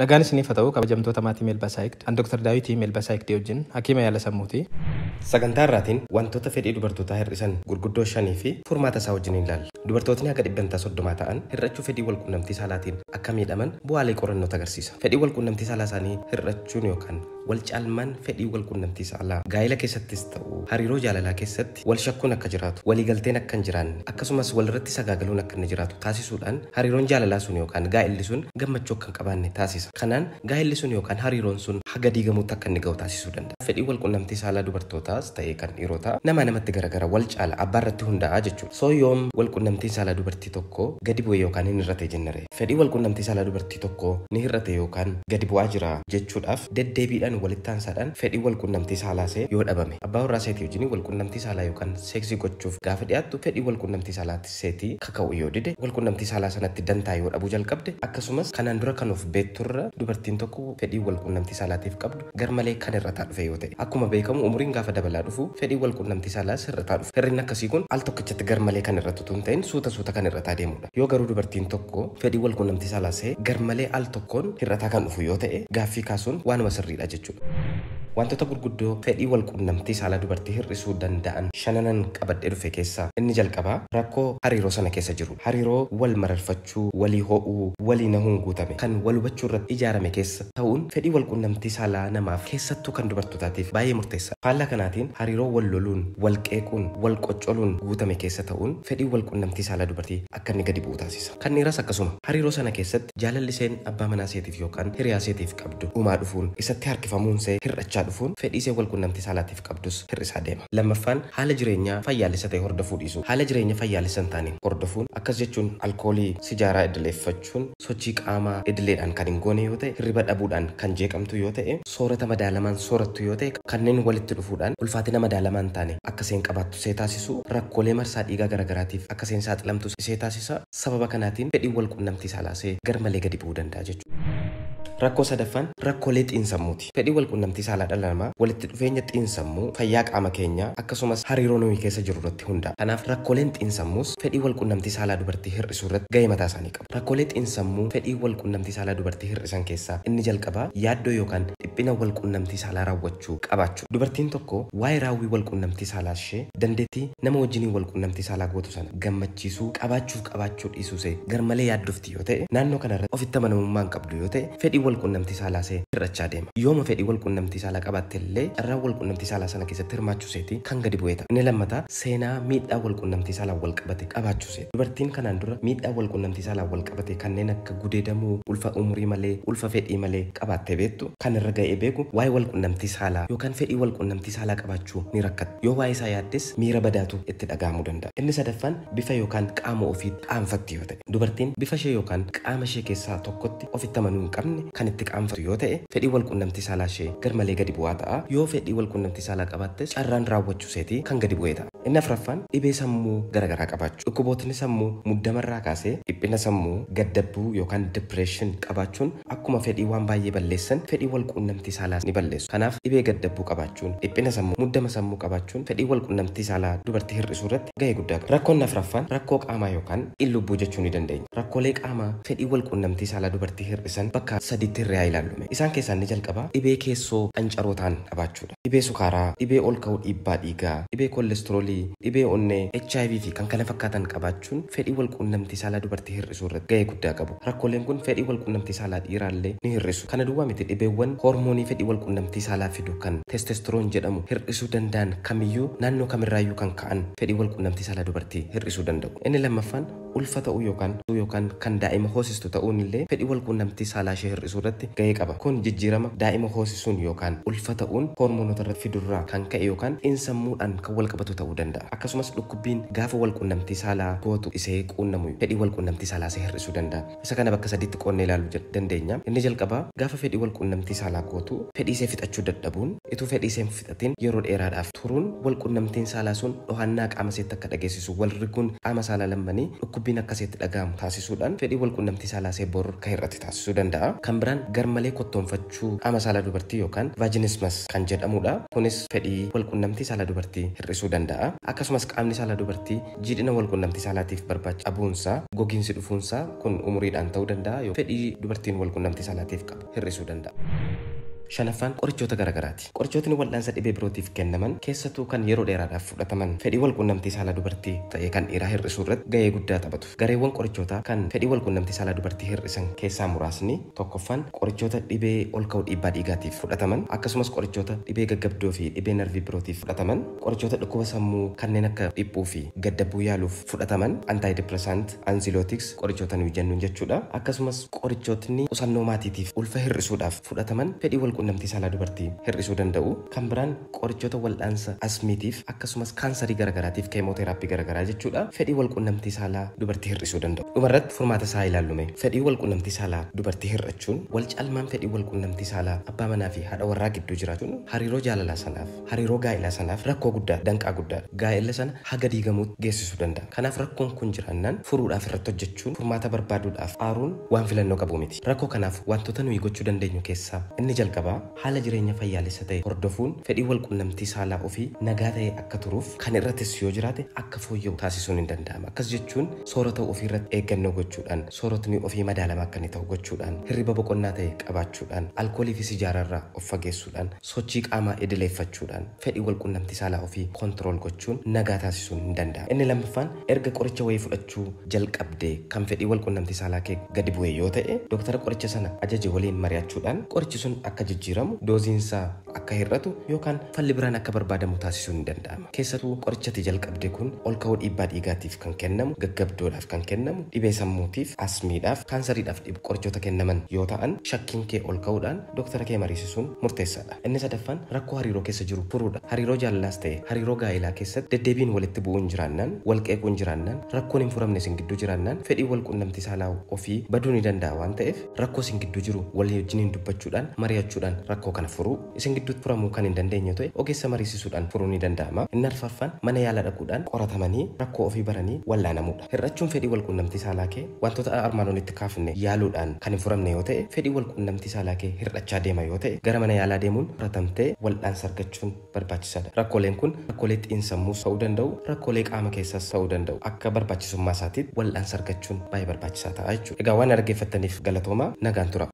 Nagaan isiniif ha ta'u kabajamtoota maatii Melba Psyched an Dr. Daawiti Melba Psyched wajjin hakiima yaala sammuuti. Sagantaa irraatiin wantoota fedhii dubartootaa hir'isan gurguddoo shanii fi furmaata isaa wajjin hin ilaalla. Dubartootni haga dhibbentaa 30 ta'an hir'achuu fedhii wal quunnamtii saalaatiin akka miidhaman bu'aalee qorannootu agarsiisa. Fedhiin wal quunnamtii saalaa isaanii hir'achuun yookaan. Wal caalmaan fedhii wal qunnamtii saalaa, gaa'ila keessattis ta'u hariiroo jaalalaa keessatti wal shakkuun akka jiraatu, walii galteen akka hin jiraanne, akkasumas wal irratti sagaagaluun akka inni jiraatu taasisuudhaan hariiroon jaalalaa sun yookaan gaa'illi sun gammachuu akka hin qabaanne taasisa. Kanaan gaa'illi sun yookaan hariiroon sun haga diigamuutti akka inni ga'u taasisuu danda'a. Fedhiin wal qunnamtii saalaa dubartootaas ta'ee kan dhiirotaa namaa namatti garagara, wal caala, abbaa irratti hundaa'a jechuudha. So yoom wal qunnamtiin saalaa dubartii tokkoo gadi bu'e yookaan hin hir'ate jenna ree? Fedhii walqunnamtii saalaa dubartii tokkoo ni hir'ate yookaan gadi bu'aa jira jechuudhaaf deddeebiidhaan walittaansaadhaan fedhiin walqunnamtii saalaasee yoo dhabame. Abbaa warraa seetii wajjin walqunnamtii saalaa yookaan seeksii gochuuf gaafa dhiyaattu fedhiin walqunnamtii saalaa seetii kaka'uu yoo dide, walqunnamtii saalaa sanatti dantaa yoo dhabuu jalqabde, akkasumas kanaan dura kan of beekturra dubartiin tokko fedhiin walqunnamtii saalaatiif qabdu garmalee kan hir'ataa dhufe yoo ta'e. Akkuma beekamu umuriin gaafa dabalaa dhufu fedhiin walqunnamtii saalaas hir'ataa dhufa. Hir'inni akkasii kun al tokkichatti garmalee kan hir'atu utuu hin ta'in suuta suuta kan hir'ataa deemuudha. Yoo garuu dubartiin tokko fedhiin walquunnamtii saalaa isee garmalee al tokkoon hir'ataa kan dhufu yoo ta'e, gaaffii kaasuun waanuma sirriidha jechuudha. Waantota gurguddoo fedhii walquunnamtii saalaa dubartii hir'isuu danda'an shananan qabadhee dhufe keessaa inni jalqabaa rakkoo hariiroo sana keessa jiruudha. Hariiroo wal mararfachuu, walii ho'uu, walii nahuun guutame, kan wal hubachuu irratti ijaarame keessa ta'uun fedhii walquunnamtii saalaa namaaf keessattuu kan dubartootaatiif baay'ee murteessaadha. Faallaa kanaatiin hariiroo wal loluun, wal qeequun, wal qoccoluun guutame keessa ta'uun fedhiin walquunnamtii saalaa dubartii akka inni gadi bu'u taasisa. Kan dhiiraas akkasuma. Hariiroo sana keessatti jaalalli iseen abbaa manaa iseetiif yookaan hiriyaa iseetiif qabdu dhumaa dhufuun, isatti harkifamuun isee hir'achaa dhufuun fedhii iseen walquunnamtii saalaatiif qabdus hir'isaa deema. Lammaffaan haala jireenyaa fayyaalessa ta'e hordofuu dhiisuu. Haala jireenya fayyaalessa hin taane hordofuun akkas jechuun alkoolii, sijaaraa idileeffachuun, Sochii qaamaa idileedhaan kan hin goone yoo ta'e, hirriba dhabuudhaan kan jeeqamtu yoo ta'e, soorata madaalamaan soorattu yoo ta'e kanneen walitti dhufuudhaan ulfaatina madaalamaa hin taane akka isheen qabaattu ishee taasisu, rakkoolee marsaa dhiigaa garagaraatiif akka isheen saaxilamtu ishee taasisa. Sababa kanaatiin fedhiin walqunnamtii saalaa ishee garmalee gadi bu'uu danda'a jechuudha. Rakkoo sadaffaan rakkoolee xiinsammuuti. Fedhii walqunnamtii saalaa dhala namaa walitti dhufeenya xiinsammuu, fayyaa qaama keenyaa, akkasumas hariiroo nuyi keessa jirru irratti hundaa'a. Kanaaf rakkooleen xiinsammuus fedhii walqunnamtii saalaa dubartii hir'isuu irratti gahee mataa isaanii qabu. Rakkoolee xiinsammuu fedhii walquunnamtii saalaa dubartii hir'isan keessaa inni jalqabaa yaaddoo yookaan dhiphina walquunnamtii saalaa raawwachuu qabaachuudha. Dubartiin tokko waa'ee raawwii walquunnamtii saalaa ishee, dandeettii nama wajjiniin walquunnamtii saalaa gootu sana gammachiisuu qabaachuuf qabaachuu dhiisuusee garmalee yaaddofti yoo ta'e, naannoo kanarratti ofitti amanamummaa hin qabdu yoo ta'e, fedhiin walquunnamtii saalaasee hir'achaa deema. Yooma fedhii walquunnamtii saalaa qabaattellee carraan walquunnamtii saalaa sana keessatti hirmaachuuseetii kan gadi bu'ee ta'a. Inni lammataa seenaa miidhaa walquunnamtii saalaan walqabate qabaachuuseeti. Dubartiin kanaan dura miidhaa walqunnamtii saalaan walqabate kanneen akka gudeedamuu, ulfa umurii malee, ulfa fedhii malee, qabaattee beektu? Kan irra ga'ee beeku waa'ee walqunnamtii saalaa yookaan fedhii walqunnamtii saalaa qabaachuu ni rakkatti. Yoo waa'ee isaa yaaddes miira badaatu itti dhaga'amuu danda'a. Inni sadaffaan bifa yookaan qaama ofii qaanfatti yoo ta'e. Dubartiin bifa ishee yookaan qaama ishee keessaa tokkotti ofitti amanuu hin qabne kan itti qaanfattu yoo ta'e, fedhiin walqunnamtii saalaa ishee garmalee gadi bu'aa ta'a. Yoo fedhii walqunnamtii saalaa qabaattes carraan raawwachuu isheetii kan gadi bu'e ta'a. Inni afraffaan dhibee sammuu gara garaa qabaachuu. Dhukkubootni sammuu muddama irraa kaasee dhiphina sammuu, gaddabbuu yookaan depression, qabaachuun akkuma fedhii waan baay'ee balleessan fedhii wal quunnamtii saalaas ni balleessu. Kanaaf dhibee gaddabbuu qabaachuun, dhiphina sammuu, muddama sammuu qabaachuun fedhii wal quunnamtii saalaa dubartii hir'isuu irratti gahee guddaa qaba. Rakkoon afraffaan rakkoo qaamaa yookaan in-lubbuu jechuu ni dandeenya. Rakkoolee qaamaa fedhii wal quunnamtii saalaa dubartii hir'isan bakka sadiitti hirree haa ilaallu mee. Isaan keessaa inni jalqabaa dhibee keessoo qancaroo ta'an qabaachuu dha. dhibee sukaaraa, dhibee ol ka'uu dhiibbaa dhiigaa, dhibee kollestroolii, dhibee onnee, hiv fi kkf qabaachuun fedhii wal quunnamtii saalaa dubartii hir'isuu irratti gahee guddaa qabu. Rakkooleen kun fedhii wal quunnamtii saalaa dhiiraa illee ni hir'isu. Kana duwwaa miti dhibeewwan hoormoonii fedhii wal quunnamtii saalaa fidu kan testosterone jedhamu hir'isuu danda'an kamiyyuu naannoo kamirraayyuu kan ka'an fedhii wal quunnamtii saalaa dubartii hir'isuu danda'u. Inni lammaffaan ulfa ta'uu yookaan yookaan kan daa'ima hoosistu ta'uun illee fedhii walquunnamtii saalaa ishee hir'isuu irratti gahee qaba. Kun jijjiirama daa'ima hoosisuun yookaan ulfa ta'uun hoormoonota irratti fidu irraa kan ka'e yookaan xiinsammuudhaan kan walqabatu ta'uu danda'a. Akkasumas dhukkubbiin gaafa walquunnamtii saalaa gootu isee quunnamu fedhii walquunnamtii saalaa isee hir'isuu danda'a. Isa kana bakka sadiitti qoodnee ilaaluu dandeenya. Inni jalqabaa, gaafa fedhii walqunnamtii saalaa gootu fedhiisee fixachuu dadhabuun, ituu fedhiisee hin fixatiin yeroo dheeraadhaaf turuun, walqunnamtiin saalaa sun dhohannaa qaama seetti akka dhageessisu, wal riguun qaama saalaa lammanii dhukkubbiin akka seetti dhaga'amu taasisuudhaan fedhii walqunnamtii saalaa see bor akka hir'ate taasisuu danda'a. Kan biraan garmalee kottoonfachuu qaama saalaa dubartii yookaan vaginismus kan jedhamuudha. Kunis fedhii walqunnamtii saalaa dubartii hir'isuu danda'a. Akkasumas qaamni saalaa dubartii Jiidhina walqunnamtii saalaatiif barbaachisu dhabuunsaa, gogiinsi dhufuunsaa, kun umuriidhaan ta'uu danda'a ykn fedhii dubartiin walqunnamtii saalaatiif qabdu hir'isuu danda'a. Shanaffaan qorichoota garagaraati. Qorichootni wal'aansa dhibee birootiif kennaman, keessatu kan yeroo dheeraadhaaf fudhataman, fedhii walqunnamtii saalaa dubartii ta'ee kan dhiiraa hir'isuu irratti gahee guddaa taphatu. Gareewwan qorichootaa kan fedhii walqunnamtii saalaa dubartii hir'isan keessaa muraasni, tokkoffaan qorichoota dhibee olka'uu dhiibbaa dhiigaatiif fudhataman, akkasumas qorichoota dhibee gaggabdoo fi dhibee narvii birootiif fudhataman. Qorichoota dhukkuba sammuu kanneen akka dhiphuu fi gaddabbuu yaaluuf fudhataman, antidepressant, anxiliotics, qorichoota nuyi jennuun jechuudha. Akkasumas qorichootni qusannoo maatiitiif, ulfa hir'isuudhaaf fudhataman fedhii walquunnamtii saalaa dubartii hir'isuu danda'u. Kan biraan qorichoota waldhaansa asmiitiif akkasumas kaansarii garagaraatiif keemooteeraappii garagaraa jechuudha fedhii walquunnamtii saalaa dubartii hir'isuu danda'u. Dhumarratti furmaata isaa haa ilaallu mee. Fedhii walquunnamtii saalaa dubartii hir'achuun walcaalmaan fedhii walquunnamtii saalaa abbaa manaa fi haadha warraa gidduu jiraachuun hariiroo jaalalaa sanaaf, Hariiroo gaa'ilaa sanaaf rakkoo guddaadha, danqaa guddaadha. Gaa'ela sana haga diigamuutti geessisuu danda'a. Kanaaf rakkoon kun jiraannaan furuudhaaf irratti hojjechuun, furmaata barbaaduudhaaf aaruun waan filannoo qabu miti. Rakkoo kanaaf wantoota nuyi gochuu dandeenyu keessaa inni jalqabaa haala jireenya fayyaalessa ta'e hordofuun fedhiin walqunnamtii saalaa ofii nagaa ta'ee akka turuuf kan irra tissu yoo jiraate akka fooyya'u taasisuun in danda'ama. Akkas jechuun soorata ofii irratti eeggannoo gochuudhaan, sooratni ofii madaalamaa akka inni ta'u gochuudhaan, hirriba boqonnaa ta'e qabaachuudhaan, alkoolii fi sijaaraa irraa of fageessuudhaan, Sochii qaamaa idileeffachuudhaan fedhii walqunnamtii saalaa ofii control gochuun nagaa taasisuun hin danda'amu. Inni lammaffaan erga qoricha wayii fudhachuu jalqabdee kan fedhii walqunnamtii saalaa kee gadi bu'e yoo ta'e doktara qoricha sana ajaje waliin mari'achuudhaan qorichi sun akka jijjiiramu, dooziin isaa akka hir'atu yookaan falli biraan akka barbaadamu taasisuun ni danda'ama. Keessatuu qorichi ati jalqabde kun olka'uu dhiibbaa dhiigaatiif kan kennamu, gaggabdoodhaaf kan kennamu, dhibee sammuutiif, asmiidhaaf, kaansariidhaaf dhib qorichoota kennaman yoo ta'an shakkiin kee olka'uudhaan, Doktora kee mariisisuun murteessaadha. Inni sadaffaan rakkoo hariiroo keessa jiru furuudha. Hariiroo jaalalaas ta'e hariiroo gaa'elaa keessatti deddeebiin walitti bu'uun jiraannaan, wal qeequun jiraannaan, rakkoon hin furamne isin gidduu jiraannaan fedhiin wal quunnamtii saalaa ofii baduu ni danda'a waan ta'eef rakkoo isin gidduu jiru walii wajjiniin dubbachuudhaan, mari'achuudhaan rakkoo kana furuu. Isin gidduutti furamuu kan hin dandeenye yoo ta'e ogeessa mariisisuudhaan furuun ni danda'ama. Inni arfaffaan mana yaala dhaquudhaan qoratamanii rakkoo ofii baranii wal'aanamuudha. Hir'achuun fedhii walquunnamtii saalaa kee wantoota armaan olitti kaafne yaaluudhaan kan hin furamne yoo ta'e, fedhii walquunnamtii saalaa kee hir'achaa deema yoo ta'e, gara mana yaalaa deemuun furatamtee wal'aansa argachuun barbaachisaadha. Rakkooleen kun rakkoolee xiinsammuus ta'uu danda'u, rakkoolee qaama keessaas ta'uu danda'u. Akka barbaachisummaa isaatiitti wal'aansa argachuun baay'ee barbaachisaa ta'a jechuudha. Egaa waan na dhaggeeffattaniif galatoomaa. Nagaan turaa.